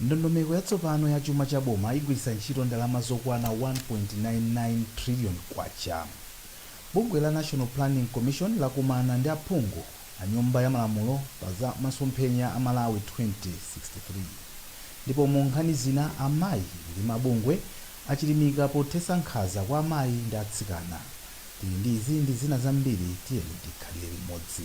Ndondomeko yatsopano ya chuma cha boma igwiritsa ntchito ndalama zokwana K1.99 trillion. Bungwe la National Planning Commission lakumana ndi aphungu anyumba ya malamulo pa za masomphenya a Malawi 2063 ndipo mu nkhani zina amayi ndi mabungwe achilimika pothetsa nkhanza kwa amayi ndi atsikana. Tili ndi izi ndi zina zambiri tiyeni tikhalire limodzi.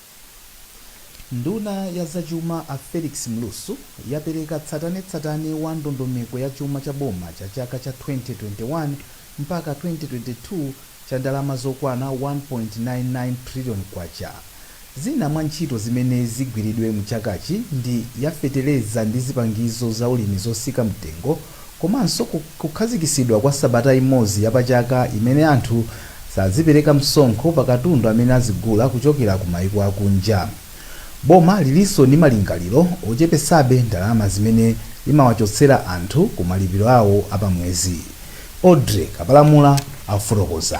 Nduna ya zachuma a Felix Mlusu yapereka tsatanetsatane wa ndondomeko ya chuma cha boma cha chaka cha 2021 mpaka 2022 cha ndalama zokwana K1.99 trillion. Zina mwa ntchito zimene zigwiridwe mu chakachi ndi ya fetereza ndi zipangizo zaulimi zosika mtengo, komanso kukhazikitsidwa kwa sabata imodzi ya pachaka imene anthu sazipereka msonkho pa katundu amene azigula kuchokera ku maiko akunja. Boma lilinso ndi malingaliro ochepetsabe ndalama zimene limawachotsera anthu ku malipiro awo a pa mwezi, Audrey Kapalamula akufotokoza.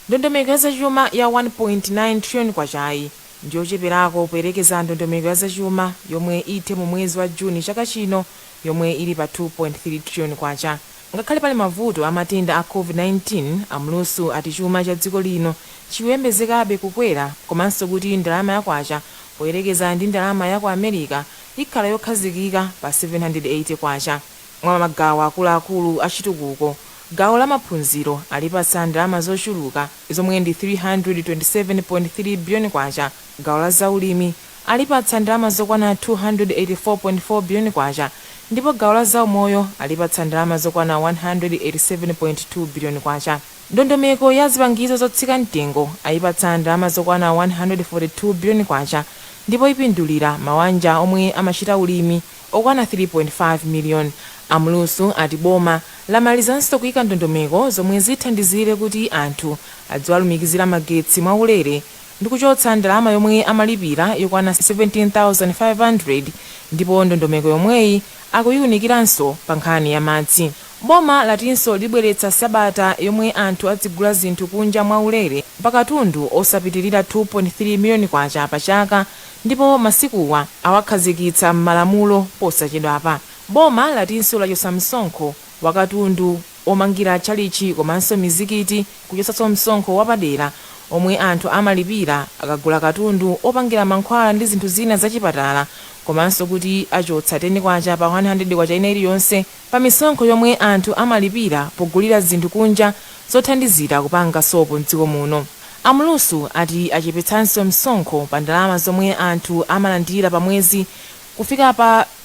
Ndondomeko ya zachuma ya K1.9 trillion-yi ndiyocheperako poyerekeza ndondomeko ya zachuma yomwe ithe mu mwezi wa June chaka chino yomwe ili pa K2.3 trillion. Ngakhale pali mavuto a matenda a Covid-19, a Mlusu ati chuma cha dziko lino chikuyembezekabe kukwera komanso kuti ndalama ya kwacha poyerekeza ndi ndalama ya ku America ikhala yokhazikika pa K780. Mwa magawo akuluakulu a chitukuko, gawo la maphunziro alipatsa ndalama zochuluka zomwe ndi K327.3 billion, gawo la zaulimi alipatsa ndalama zokwana K284.4 biliyoni ndipo gawo la zaumoyo alipatsa ndalama zokwana K187.2 biliyoni. Ndondomeko ya zipangizo zotsika mtengo ayipatsa ndalama zokwana K142 biliyoni ndipo ipindulira mawanja omwe amachita ulimi okwana 3.5 miliyoni. A Mlusu ati boma lamalizanso kuika ndondomeko zomwe zithandizire kuti anthu adziwalumikizira magetsi mwaulere. ndi kuchotsa ndalama yomwe amalipira yokwana 17,500 ndipo ndondomeko yomweyi akuyiunikiranso pa nkhani ya madzi. Boma latinso libweretsa sabata yomwe anthu adzigula zinthu kunja mwa ulere pa katundu osapitilira K2.3 miliyoni pa chaka ndipo masikuwa awakhazikitsa m'malamulo posachedwapa. Boma latinso lachotsa msonkho wa katundu omangira tchalitchi komanso mizikiti, kuchotsanso msonkho wapadera omwe anthu amalipira akagula katundu opangira mankhwala ndi zinthu zina za chipatala komanso kuti achotsa K10 pa K100 ina iliyonse pa misonkho yomwe anthu amalipira pogulira zinthu kunja zothandizira kupanga sopo m'dziko muno. A Mlusu ati achepetsanso msonkho pa ndalama zomwe anthu amalandira pa mwezi kufika pa.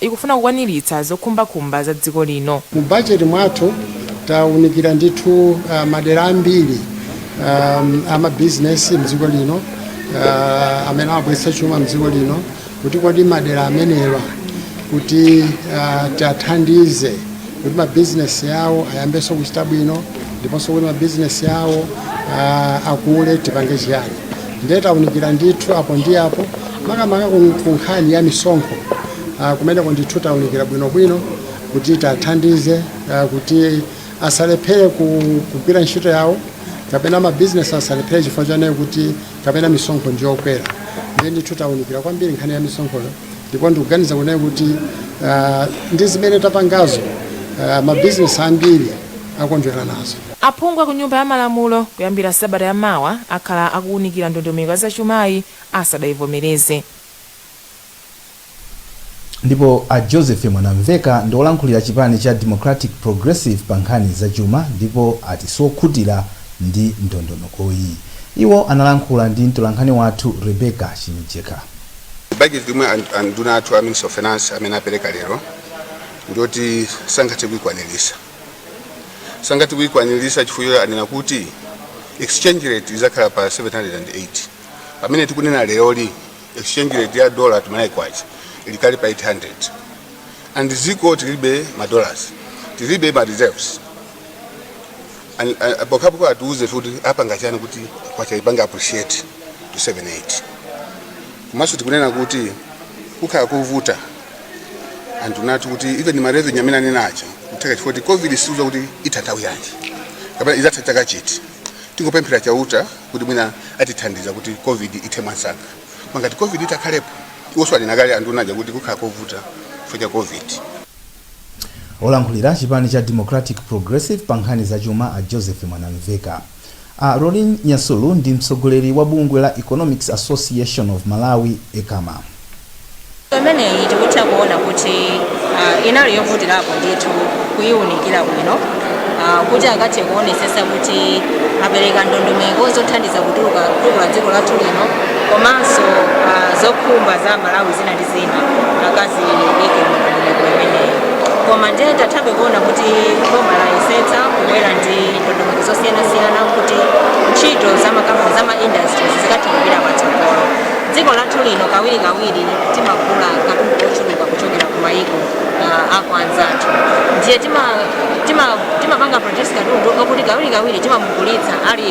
ikufuna kukwaniritsa zokhumbakhumba za dziko lino. Mu bajeti mwathu taunikira ndithu madera ambiri a mabizinesi mdziko lino amene amabweretsa chuma mdziko lino kuti kodi madera amenewa kuti tiwathandize. kuti mabizinesi yawo ayambenso kuchita bwino ndiponso kuti mabizinesi awo ah, akule tipange chiyani ndiye taunikira ndithu apo ndi apo makamaka ku- ku nkhani ya misonkho ah, kumeneko ndithu taunikira bwinobwino kuti tathandize ah, kuti asalephere ku- kugwira ntchito yawo kapena mabizinesi asalephere chifukwa chonena kuti kapena misonkho ndiyokwera ndiye ndithu taunikira kwambiri nkhani ya misonkhoyo ndipo ndikuganiza kunena kuti ah, ndi zimene tapangazo ah, mabizinesi ambiri akondwera nazo aphungu a ku nyumba ya malamulo kuyambira sabata ya mawa akhala akuwunikira ndondomeko ya zachumayi asadayivomereze ndipo a joseph mwanamveka ndi olankhulira chipani cha democratic progressive pa nkhani zachuma ndipo ati sokhutira ndi ndondomekoyi iwo analankhula ndi mtolankhani wathu rebecca chimjeka Budget yomwe and- anduna athu a Minister of Finance amene apereka lero ndiyoti sangathe kuikwanirisa sangathe kuikwanirisa chifukwa anena kuti exchange rate izakhala pa 708 pamene tikunena leroli exchange rate ya dollar to Malawi kwacha ili kale pa 800 and ziko tilibe ma dollars tilibe ma reserves An, an, pokhapokha atiuze kuti apanga chani kuti kwacha ipange appreciate to 78 komanso tikunena kuti kukhala kovuta anduna ati kuti even ma revenue amene anena aja kutheka chifukwa kuti covid siuza kuti itha nthawi yanji kapena idzatha chaka chiti tingopemphera chauta kuti mwina atithandiza kuti covid ithe mwansanga ma ngati covid itakhalepo iwonso anena kale anduna aja kuti kukhala kovuta chifukwa cha covid Olankhulira chipani cha Democratic Progressive pa nkhani za chuma a Joseph Mwanamveka a Lauryn Nyasulu ndi mtsogoleri wa bungwe la Economics Association of Malawi, Ecama. imeneyi tikutha kuona kuti ah, inali yovutirapo ndithu kuyiwunikira bwino ah, kuti akathe kuonesesa kuti apereka ndondomeko zothandiza kutuluka kutukula dziko lathu lino komanso ah, zokhumba za Amalawi zina ndi zina akaziike mundondomeko imeneyi koma ndiye tathabe kuona kuti boma layesetsa kubwera ndi ndondomeko zosiyanasiyana kuti ntchito za makampani za ma industries zikathe kupita patsogolo dziko lathu lino kawirikawiri timagula katundu wochuluka kuchokera ku mayiko uh, akwanzathu ndiye timapanga tima, tima produce katundu okuti kawirikawiri timamugulitsa ali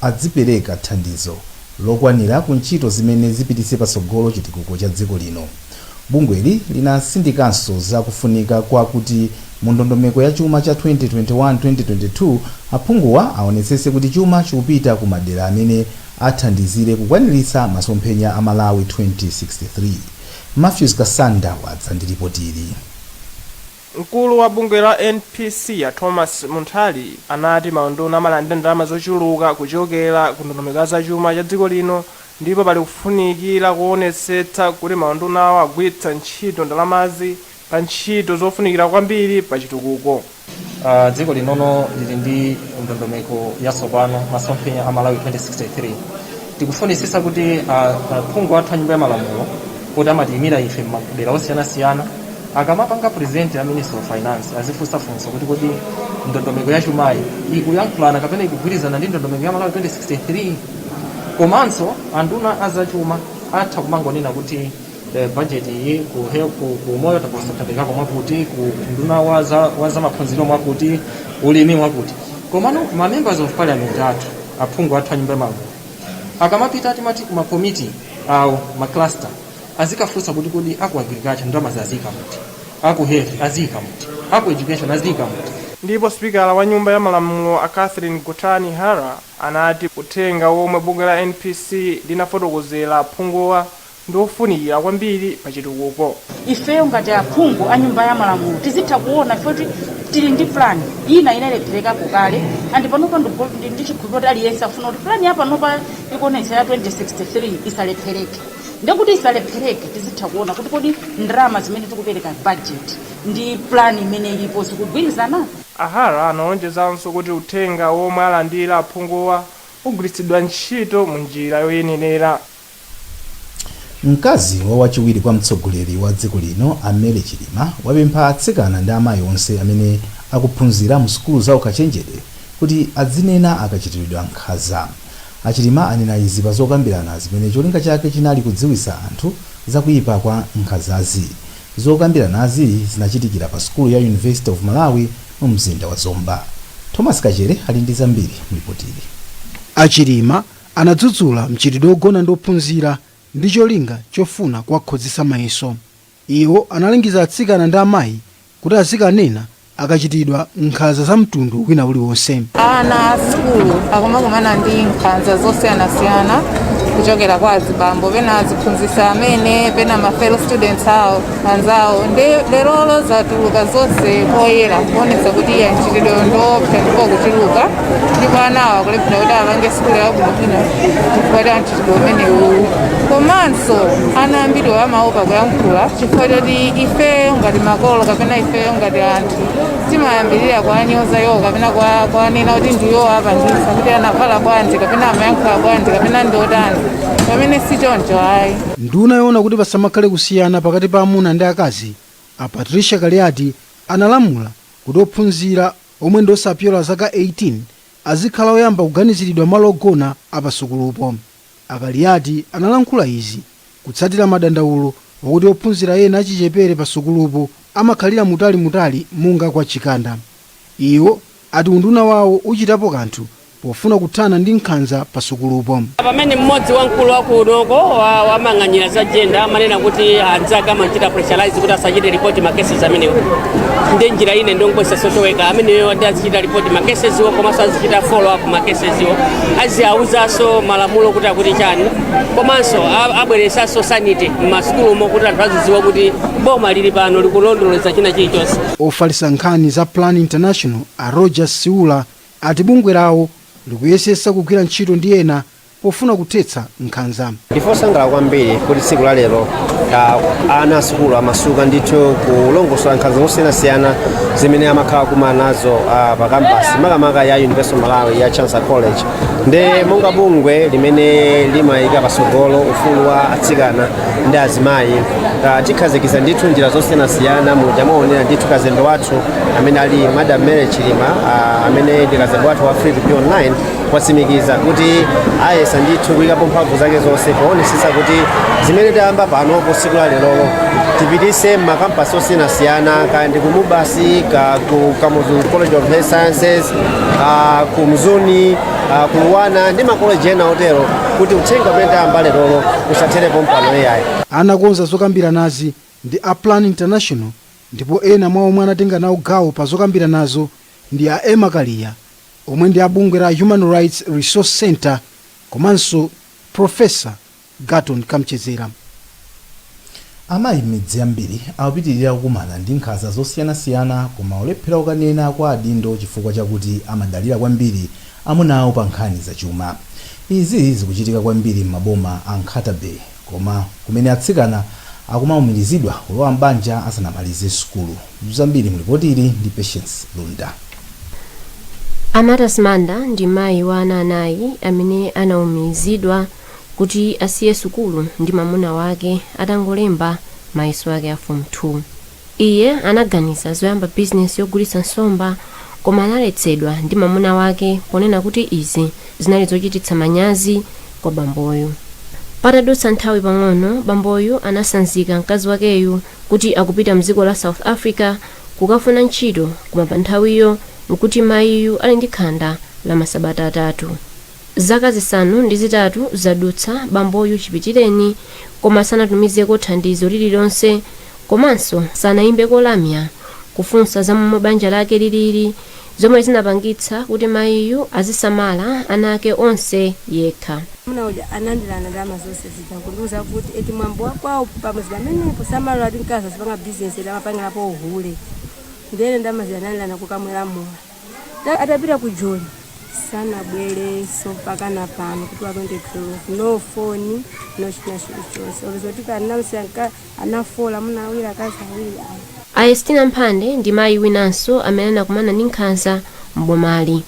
adzipereka thandizo lokwanira ku ntchito zimene zipititse patsogolo chitukuko cha dziko lino. Bungweli linatsindikanso za kufunika kwa kuti mu ndondomeko ya chuma cha 2021-2022, aphunguwa aonetsetse kuti chuma chikupita ku madera amene athandizire kukwaniritsa masomphenya a Malawi 2063. Mathews Kasanda wadza ndi lipotili. Mkulu wa bungwe la NPC a Thomas Munthali anati maunduna amalandira ndalama zochuluka kuchokera ku ndondomeko ya zachuma cha dziko lino ndipo pali kufunikira koonetsetsa kuti maundunawa agwiritsa ntchito ndalamazi pa ntchito zofunikira kwambiri pa chitukuko. Dziko linono lili ndi ndondomeko yatsopano, masomphenya a Malawi 2063. tikufunitsitsa kuti aphungu athu a nyumba ya malamulo poti amatiyimira ife m'madera osiyanasiyana akamapanga present a minister of finance azifunsa funso kuti kodi ndondomeko ya chumayi ikuyankhulana kapena ikugwirizana ndi ndondomeko ya malawi 2063 komanso anduna azachuma atha kumangonena kuti eh, budget iyi ku health ku umoyo taposa taperekako mwakuti ku unduna wa za, wa za maphunziro mwakuti ulimi mwakuti komano ma members of parliament athu aphungu athu a nyumba ya malamulo akamapita timati ku makomiti awo macluster azikafunsa kuti kodi aku agriculture ndalama azika muti aku health azika muti aku education azika muti ndipo sipikala wa nyumba ya malamulo a catherine gotani hara anati uthenga womwe bungwe la npc linafotokozera aphunguwa ndi ofunikira kwambiri pa chitukuko. Ifeyo ngati aphungu a nyumba ya malamulo tizitha kuona ife kuti tili ndi plan ina inalepherekapo kale and panopa ndikukhulupirira kuti aliyense akufuna kuti plan yapanopa ikuonetsa ya 2063 isalephereke nde kuti isalephereke tizitha kuona kuti kodi ndalama zimene tikupereka budget ndi plan imene ilipo zikugwirizana? A Hara analonjezanso kuti uthenga womwe alandira aphunguwa ugwiritsidwa ntchito mu njira yoyenera. Mkazi wa wachiwiri kwa mtsogoleri wa dziko lino a Mary Chilima wapempha atsikana ndi amayi onse amene akuphunzira mu sukulu za ukachenjede kuti adzinena akachitiridwa nkhaza. A Chilima anena izi pa zokambirana zimene cholinga chake chinali kudziwitsa anthu za kuipa kwa nkhazazi. Zokambiranazi zinachitikira pa sukulu ya University of Malawi mu mzinda wa Zomba. Thomas Kachere ali ndi zambiri mu lipotili. A Chilima Anadzudzula mchitidwe wogona ndi ophunzira ndi cholinga chofuna kuwakhozetsa mayeso. Iwo analangiza atsikana ndi amayi kuti azikanena akachitidwa nkhanza za mtundu wina uliwonse. Ana a sukulu akumakumana ndi nkhanza zosiyanasiyana kuchokera kwa azibambo, pena aziphunzitsi amene, pena ma fellow students awo. anzawo ndi lerolo zatuluka zonse poyera kuonetsa kuti eya mchitidwe ndi woopsa ndipo ukuchuluka ndipo anawo akulephera kuti apange sukulu yabwinobwino chifukwa cha mchitidwe umenewu komanso ana ambiri amaopa kuyankhula chifukwa choti ifeyo ngati makolo kapena ifeyo ngati anthu timayambirira kuwanyoza iwo kapena kuwanena kuti ndiwo apangisa kuti anavala bwanji kapena amayankhula bwanji kapena ndiotani pamene si choncho ayi Nduna yoona kuti pasamakhale kusiyana pakati pa amuna ndi akazi, a Patricia Kaliati analamula kuti ophunzira omwe ndi osapyola zaka 18 azikhala oyamba kuganiziridwa malo ogona a pa sukulupo. A Kaliati analankhula izi kutsatira madandaulo wakuti ophunzira ena achichepere pa sukulupo amakhalira mutali mutali monga kwa Chikanda. Iwo ati unduna wawo uchitapo kanthu pofuna kuthana ndi nkhanza pa sukulupo. Pamene mmodzi wa mkulu wa kunoko wa woyang'anira za jenda amanena kuti anzake amamchita pressurize kuti asachite report ma cases amenewo ndiye njira ine ndikungouza social worker ameneyo ati azichita report ma cases-wo komanso azichita follow up ma cases-wo aziwauzanso malamulo kuti akuti chani komanso a- abweresanso sanity m'masukulumo kuti anthu azidziwa kuti boma lili pano likulondoleza china chilichonse Ofalitsa nkhani za Plan International a Rodgers Siula ati bungwe lawo likuyesetsa kugwira ntchito ndi ena pofuna kuthetsa nkhanza. Ndife osangalala kwambiri kuti tsiku la lero ah, ana a sukulu amasuka ndithu kulongosola nkhanza zosiyanasiyana zimene amakhala akukumana nazo ah, pa kampasi makamaka ya University of Malawi ya Chancellor College ndiye monga bungwe limene limayika patsogolo ufulu wa atsikana ndi azimayi uh, tikhazikitsa ndithu njira zosiyanasiyana muja mwaonera ndithu kazembe wathu amene ali madam mary chilima uh, amene ndi kazembe wathu wa free to be online wasimikiza kuti ayesa ndithu kuyikapo mphamvu zake zonse poonetsetsa kuti zimene tayamba panopo siku la lerolo tipitise m'makampasi osiyanasiyana kaya ndi ku MUBAS kaya ku kamuzu college of health sciences uh, ku mzuni ah, ku LUANAR ndi makoleji ena otero kuti uthenga umene tayamba lerolo usathere pompano ayi anakonza zokambiranazi ndi a plan international ndipo ena mwa omwe anatenga nawo gawo pa zokambiranazo ndi a emma kaliya omwe ndi a bungwe la human rights resource center komanso profesa Garton Kamchedzera. Amayi m'midzi yambiri akupitilira kukumana ndi nkhanza zosiyanasiyana koma kulephera kukanena kwa adindo chifukwa chakuti amadalira kwambiri amuna awo pa nkhani za chuma. Izi zikuchitika kwambiri m'maboma a Nkhata Bay koma kumene atsikana akumaumirizidwa kulowa m'banja asanamalize sukulu. Zambiri mu lipoti ili ndi Patience Lunda. A Martha Simanda ndi mayi wa ana anayi amene anaumirizidwa. kuti asiye sukulu ndi mamuna wake atangolemba mayeso ake a Form 2. Iye anaganiza zoyamba bizinesi yogulitsa nsomba koma analetsedwa ndi mamuna wake ponena kuti izi zinali zochititsa manyazi kwa bamboyu. Patadutsa nthawi pang'ono, bamboyu anasanzika mkazi wakeyu kuti akupita mdziko la South Africa kukafuna ntchito koma panthawiyo nkuti mayiyu ali ndi khanda la masabata atatu. Zaka zisanu ndi zitatu zadutsa bamboyu chipitireni koma sanatumizeko thandizo lililonse komanso sanaimbeko lamya kufunsa za momwe banja lake lilili zomwe zinapangitsa kuti mayiyu azisamala ana ake onse yekha. Mamuna uja anandilanda ndalama zonse zija kundiuza kuti eti mwambo wa kwawo pamudzi pamenepo samalola kuti mkazi azipanga bizinesi eti amapangirapo uhule. Ndiye ine ndalama zija anandilanda nkukamwera mowa. Ta- atapita ku joni sanabwerenso mpakana pano kuti watonde tulofu no phone no china chilichonse olo zoti kanamsi anka ana four amuna awiri akazi awiri ayi a estina mphande ndi mayi winanso amene anakumana ndi nkhanza m'bomali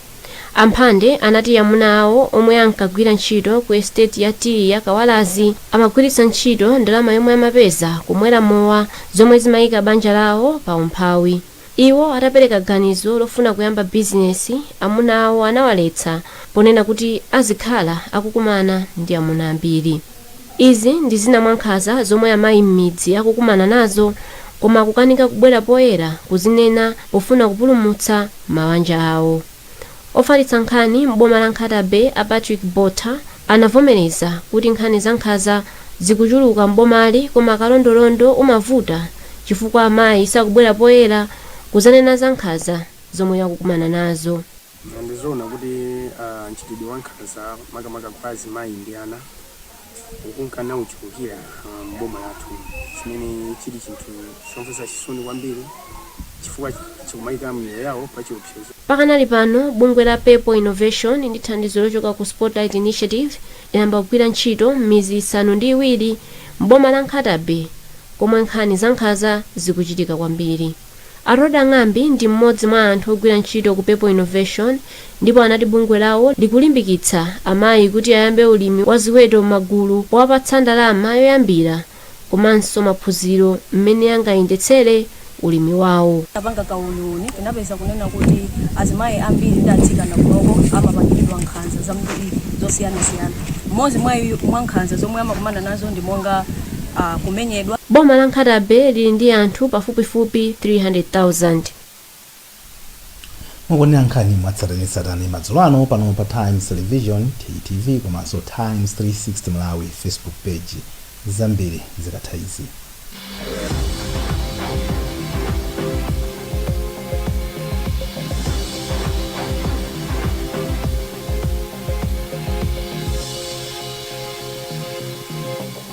a Mphande anati amuna awo omwe ankagwira ntchito ku esiteti ya tiyi ya kawalazi amagwiritsa ntchito ndalama yomwe amapeza kumwera mowa zomwe zimayika banja lawo pa umphawi Iwo atapereka ganizo lofuna kuyamba bizinesi, amuna awo anawaletsa ponena kuti azikhala akukumana ndi amuna ambiri. Izi ndi zina mwa nkhanza zomwe amayi m'midzi akukumana nazo koma kukanika kubwera poyera kuzinena pofuna kupulumutsa mawanja awo. Ofalitsa nkhani m'boma la Nkhata Bay a Patrick Botha anavomereza kuti nkhani za nkhanza zikuchuluka m'bomali koma kalondolondo umavuta chifukwa amayi sakubwera poyera kuzanena za nkhanza zomwe akukumana nazo. Ndi zoona kuti mchitidwe wa nkhanza makamaka kwa azimayi ndi ana, ukunka nauchulukira ah, m'boma lathu chimene chili chinthu chomvetsa chisoni kwambiri chifukwa chikumayika miyoyo yawo pa chiopsezo Pakanali pano, bungwe la Purple Innovation ndi thandizo lochoka ku Spotlight Initiative layamba kugwira ntchito m'midzi isanu ndi iwiri m'boma la Nkhata Bay komwe nkhani zankhaza zikuchitika kwambiri. A Rhoda Ng'ambi ndi m'modzi mwa anthu ogwira ntchito ku People Innovation ndipo anati bungwe lawo likulimbikitsa amayi kuti ayambe ulimi wa ziweto m'magulu powapatsa ndalama yoyambira komanso maphunziro m'mene angayendetsere ulimi wawo. Titapanga kauniuni tinapeza kunena kuti azimayi ambiri ndi atsikana kunoko amapangidwa nkhanza zambiri zosiyanasiyana. M'modzi mwa mwa nkhanza zomwe amakumana nazo ndi monga. kumenyedwa. Boma la Nkhata Bay lili ndi anthu pafupifupi 300,000. Mukuonera nkhani mwatsatanetsatane madzulo ano pano pa Times Television, TTV, komanso Times 360 Malawi Facebook Page. Zambiri zikatha izi.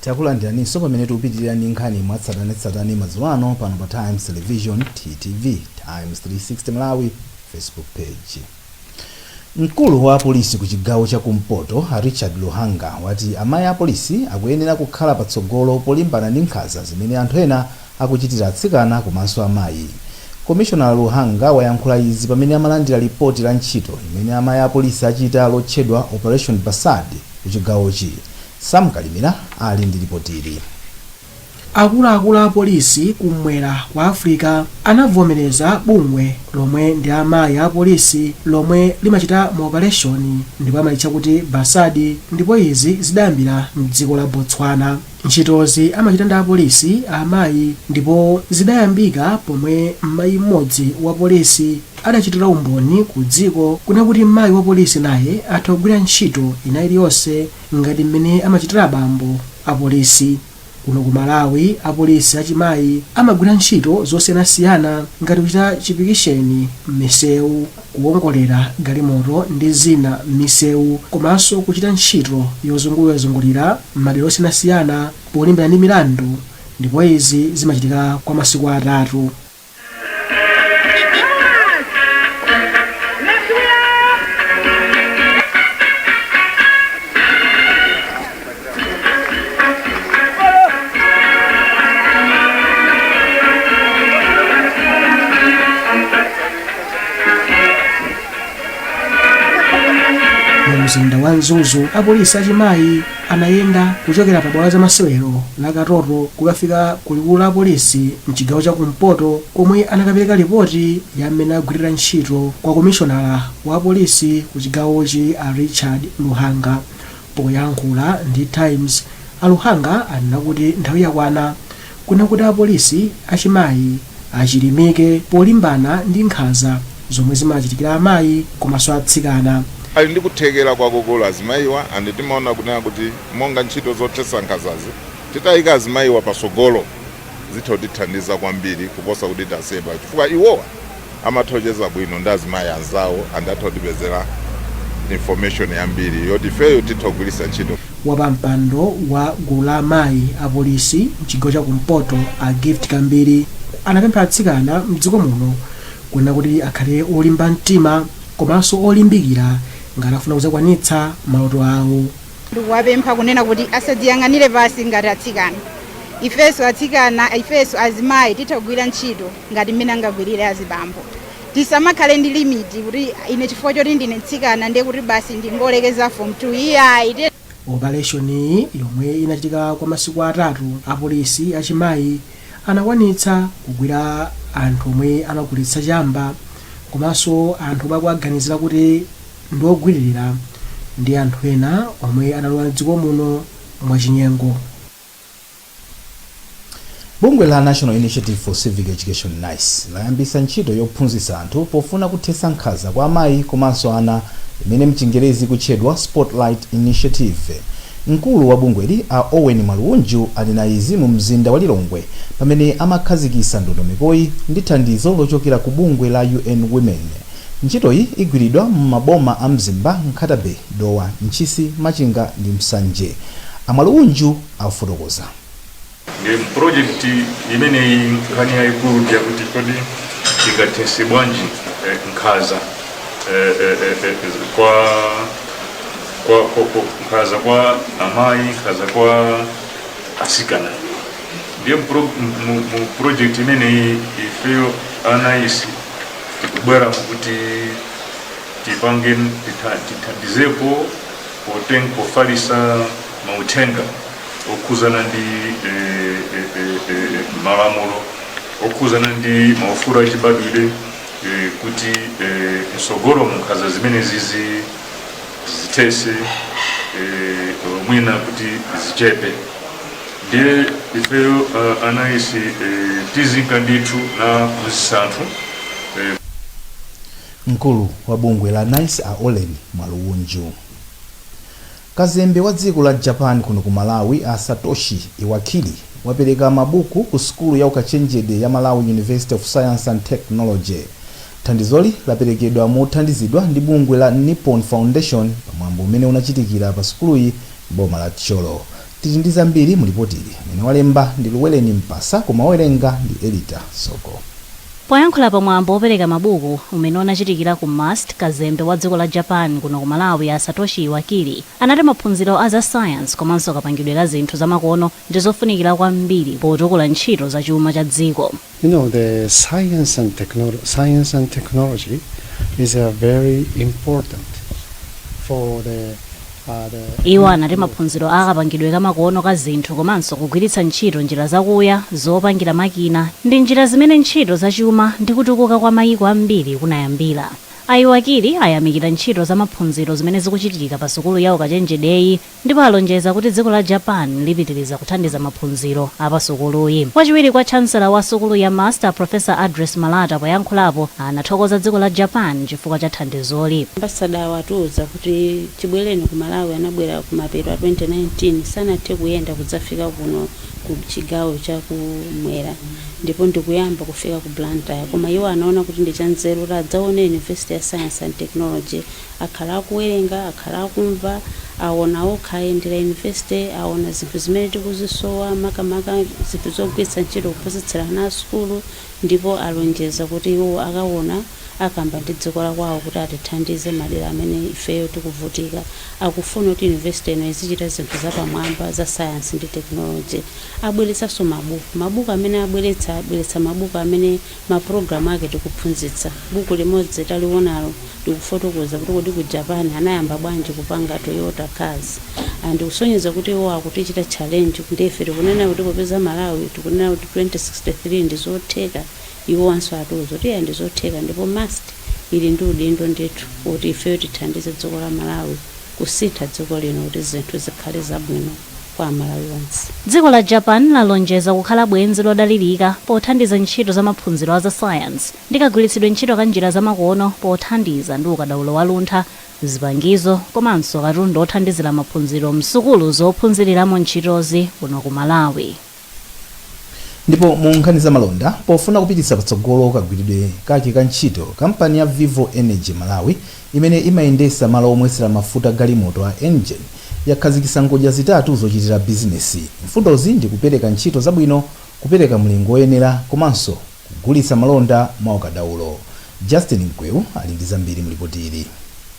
Takulandiraninso pamene tikupitirira ndi nkhani mwatsatanetsatane madzulo ano pano pa Times Television, TTV, Times 360 Malawi Facebook page. Mkulu wa apolisi ku chigawo cha kumpoto a Richard Luhanga wati amayi apolisi akuyenera kukhala patsogolo polimbana ndi nkhanza zimene anthu ena akuchitira atsikana komanso amayi. Komishonala Luhanga wayankhula izi pamene amalandira lipoti la ntchito imene amayi apolisi achita lotchedwa Operation Basadi kuchigawochi. Sam Kalimira ali ndi lipotili. Akuluakulu a polisi kummwera kwa Africa anavomereza bungwe lomwe ndi amayi a polisi lomwe limachita maopaleshoni ndipo amalitcha kuti Basadi ndipo izi zidayambira m'dziko la Botswana. Ntchitozi amachita ndi apolisi a amayi ndipo zidayambika pomwe mmayi mmodzi wa polisi adachitira umboni ku dziko kuna kuti mmayi wa polisi naye atha kugwira ntchito ina iliyonse ngati mmene amachitira abambo a polisi. Kuno ku Malawi apolisi achimayi amagwira ntchito zosiyanasiyana ngati kuchita chipikisheni mmisewu. kuwongolera galimoto ndi zina m'misewu komanso kuchita ntchito yozungulirazungulira m'madera osiyanasiyana polimbana ndi milandu ndipo izi zimachitika kwa masiku atatu. mu mzinda wa mzuzu apolisi achimayi anayenda kuchokera pa bwalo la zamasewero la katoto kukafika ku likulu la apolisi mchigawo cha kumpoto komwe anakapereka ripoti ya mmene agwirira ntchito kwa komishonala wa apolisi ku chigawochi a richard luhanga Poyankhula ndi Times, a Luhanga anena kuti nthawi yakwana kuona kuti apolisi achimayi achilimike polimbana ndi nkhanza zomwe zimachitikira amayi komanso atsikana. Ali ndi kuthekera kwakukulu azimayiwa andi timaona kunena kuti monga ntchito zothetsa nkhanzazi titayika azimayiwa patsogolo zitha kutithandiza kwambiri kuposa kuti taseba chifukwa iwowa amatha kucheza bwino ndi azimayi anzawo and atha kutipezera information yambiri yoti ifeyo titha kugwiritsa ntchito. Wapampando wa gulu la amayi a polisi mchigawo cha kumpoto a Gift Kambiri anapempha atsikana mdziko muno kunena kuti akhale olimba mtima komanso olimbikira ngati afuna kuzakwanitsa maloto awo. Ndikuwapempha kunena kuti asadziyang'anire pansi ngati atsikana ifeso atsikana ifeso azimayi titha kugwira ntchito. ngati mmene angagwirire azibambo. Tisamakhale ndi limit kuti ine chifukwa choti ndine mtsikana ndiye kuti basi ndingolekeza form 2 iyayi. Tiyeni. Opaleshoniyi yomwe inachitika kwa masiku atatu, apolisi achimayi anakwanitsa kugwira anthu omwe amagulitsa chamba komanso anthu omwe akuwaganizira kuti ndi ogwiririra ndi anthu ena omwe analowa m'dziko muno mwachinyengo. Bungwe la National Initiative for Civic Education, NICE, layambitsa ntchito yophunzitsa anthu pofuna kuthetsa nkhanza kwa amayi komanso ana imene mchingerezi ikutchedwa Spotlight Initiative. Mkulu wa bungweli a Ollen Mwalubunju ali na izi mu mzinda wa Lilongwe pamene amakhazikitsa ndondomekoyi ndi thandizo lochokera ku bungwe la UN Women. Ntchitoyi igwiridwa m'maboma a Mzimba, Nkhata Bay. Dowa, Ntchisi, Machinga ndi Nsanje. A Mwalubunju afotokoza. Ndiye mu project imeneyi nkhani yayikulu ndi yakuti kodi tingathetse bwanji eh, nkhaza eh, eh, eh, eh, kwa kwa kwa- kwa- nkhaza kwa amayi nkhaza kwa asikana ndiye mu pro- mu- mu- mu project imeneyi ifeyo a NICE tikubwera mukuti tipange tithandizepo poteng pofalisa mauthenga okhuzana ndi e, e, e, e, malamulo okhuzana ndi maufulu achibadwire e, kuti e, msogolo munkhaza zimene zizi zithese e, mwina kuti zichepe ndiye ifeyo uh, anayisi e, tizinka ndithu na msanthu Mkulu wa bungwe la NICE a Ollen Mwalubunju. Kazembe wa dziko la Japan kuno ku Malawi a Satoshi Iwakiri wapereka mabuku ku sukulu ya ukachenjede ya Malawi University of Science and Technology. Thandizoli laperekedwa mothandizidwa ndi bungwe la Nippon Foundation pa mwambo umene unachitikira pa sukuluyi m'boma la Thyolo. Tili ndi zambiri mu lipotili. Amene walemba ndi Luweleni Mpasa koma owerenga ndi Elita Soko. Poyankhula pa mwambo wopereka mabuku umene unachitikira ku MUST, kazembe wa dziko la Japan kuno ku Malawi a Satoshi Iwakiri anati maphunziro a za science komanso kapangidwe ka zinthu zamakono ndizofunikira kwambiri potukula ntchito za chuma cha dziko. You know, the science and, technolo- science and technology is uh, very important for the, uh, the iwo anati maphunziro a kapangidwe kamakono ka zinthu komanso kugwiritsa ntchito njira zakuya zopangira makina ndi njira zimene ntchito zachuma ndi kutukuka kwa mayiko ambiri kunayambira a Iwakiri ayamikira ntchito za maphunziro zimene zikuchitika pa sukulu ya ukachenjedeyi ndipo alonjeza kuti dziko la Japan lipitiliza kuthandiza maphunziro a pa sukuluyi. Wachiwiri kwa Chancellor wa sukulu ya MUST a Professor Address Malata poyankhulapo anathokoza dziko la Japan chifukwa cha thandizoli. Ambassador-wa atiuza kuti chibweleni ku Malawi anabwera kumapeto a 2019 sanathe kuyenda kudzafika kuno ku chigawo cha ku mwera ndipo ndikuyamba kufika ku Blantyre koma iwo anaona kuti ndi chanzeru kuti adzaone University ya Science and Technology akhala akuwerenga, akhala akumva, aona okha, ayendera university, aona zinthu zimene tikuzisowa, makamaka zinthu zogwiritsa ntchito kuphunzitsira ana a sukulu, ndipo alonjeza kuti iwowo akaona, akamba ndi dziko la kwawo kuti atithandize madera amene ifeyo tikuvutika. Akufuna kuti university ino izichita zinthu zapamwamba za science ndi technology. Abweretsanso mabuku. Mabuku amene abweretsa, abweretsa mabuku amene mapulogalamu ake tikuphunzitsa. Buku limodzi taliwonalo likufotokoza kuti kodi ku Japan anayamba bwanji kupanga Toyota cars and ndikusonyeza kuti iwo akutichita challenge ndiye ife tikunena kuti popeza Malawi tikunena kuti 2063 ndizotheka iwowanso atiuza kuti iya ndizotheka ndipo MUST ili ndi udindo ndithu woti ifeyo tithandize dziko la Malawi kusintha dziko lino kuti zinthu zikhale zabwino. kwa Amalawi onse. Dziko la Japan lalonjeza kukhala bwenzi lodalirika pothandiza ntchito za maphunziro a za sayansi ndi kagwiritsidwe ntchito ka njira zamakono pothandiza ndi ukadaulo wa luntha, zipangizo komanso katundu othandizira maphunziro m'sukulu zophunziriramo ntchitozi kuno ku Malawi. Ndipo mu nkhani za malonda, pofuna kupititsa patsogolo kagwiridwe kake ka ntchito, kampani ya Vivo Energy Malawi, imene imayendetsa malo omwetsera mafuta galimoto a Engen, yakhazikitsa ngodya zitatu zochitira bizinesi. Mfundozi ndi kupereka ntchito zabwino, kupereka mlingo woyenera komanso. Kugulitsa malonda mwa ukadaulo. Justin Mkweu ali ndi zambiri mu lipoti ili.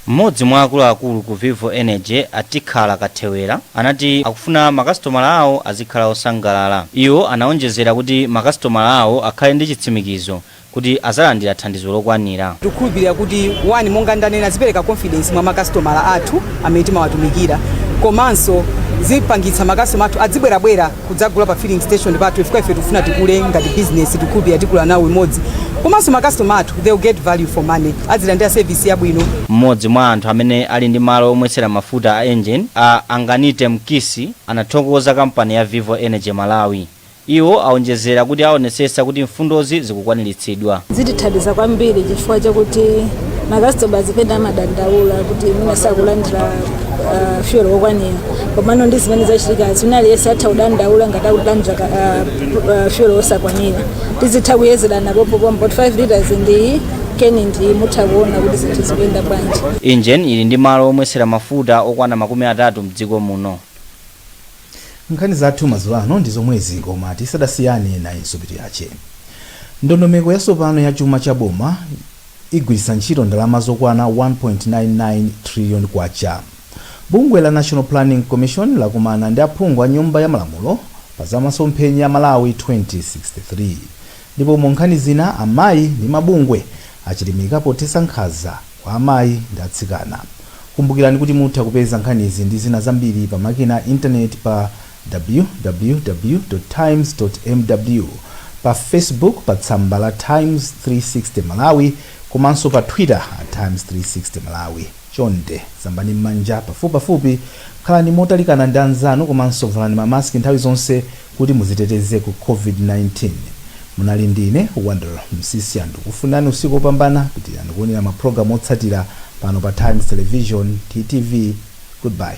M'modzi mwa akuluakulu ku Vivo Energy, a Tikhala Kathewera, anati akufuna makasitomala awo azikhala osangalala. Iwo anaonjezera kuti makasitomala awo akhale ndi chitsimikizo kuti azalandira thandizo lokwanira. Tikukhulupilira kuti 1 monga ndanena zipereka confidence mwa makasitomala athu amene timawatumikira komanso zipangitsa makasitomala athu adzibwerabwera. kudzagula pa filling station pathu chifukwa ife tikufuna tikule ngati business tikukhulupirira tikula nawo imodzi komanso makastoma athu they will get value for money adzilandira service yabwino M'modzi mwa anthu amene ali ndi malo omwetsera mafuta a Engen, a Anganite Mkisi, anathokoza kampani ya Vivo Energy Malawi. Iwo aonjezera kuti aonetsetsa kuti mfundozi zikukwaniritsidwa. zitithandiza kwambiri chifukwa chakuti makasitomala zipenda amadandaula kuti mwina sakulandira uh, fuel wokwanira komano ndi zimene zachitikazi wina aliyense atha kudandaula ngati akulandira ka- ah, pr- ah, fuel osakwanira tizitha kuyezerana pompopompo 5 liters ndiyi keni ndi iyi mutha kuona kuti zinthu zikuyenda bwanji Engen ili ndi malo omwetsera mafuta okwana makumi atatu mdziko muno nkhani zathu madzulo ano ndi zomwezi koma tisanasiyane nayinso mitu yake ndondomeko yatsopano ya chuma cha boma igwiritsa ntchito ndalama zokwana 1.99 trillion kwacha Bungwe la National Planning Commission lakumana ndi aphungu a Nyumba ya Malamulo pa za masomphenya a Malawi 2063. Ndipo mu nkhani zina, amayi ndi mabungwe achilimika pothetsa nkhanza kwa amayi ndi atsikana. Kumbukirani kuti mutha kupeza nkhanizi ndi zina zambiri pa makina a intaneti pa www.times.mw, pa Facebook pa tsamba la Times 360 Malawi komanso pa Twitter at Times 360 Malawi. Chonde, sambani m'manja pafupipafupi, khalani motalikana ndi anzanu komanso valani ma mask nthawi zonse kuti mudziteteze ku COVID-19. Munali ndi ine, Wonder Msisya. Ndikufunirani usiku opambana. Pitilirani kuonera ma program otsatira pano pa Times Television, TTV. Goodbye.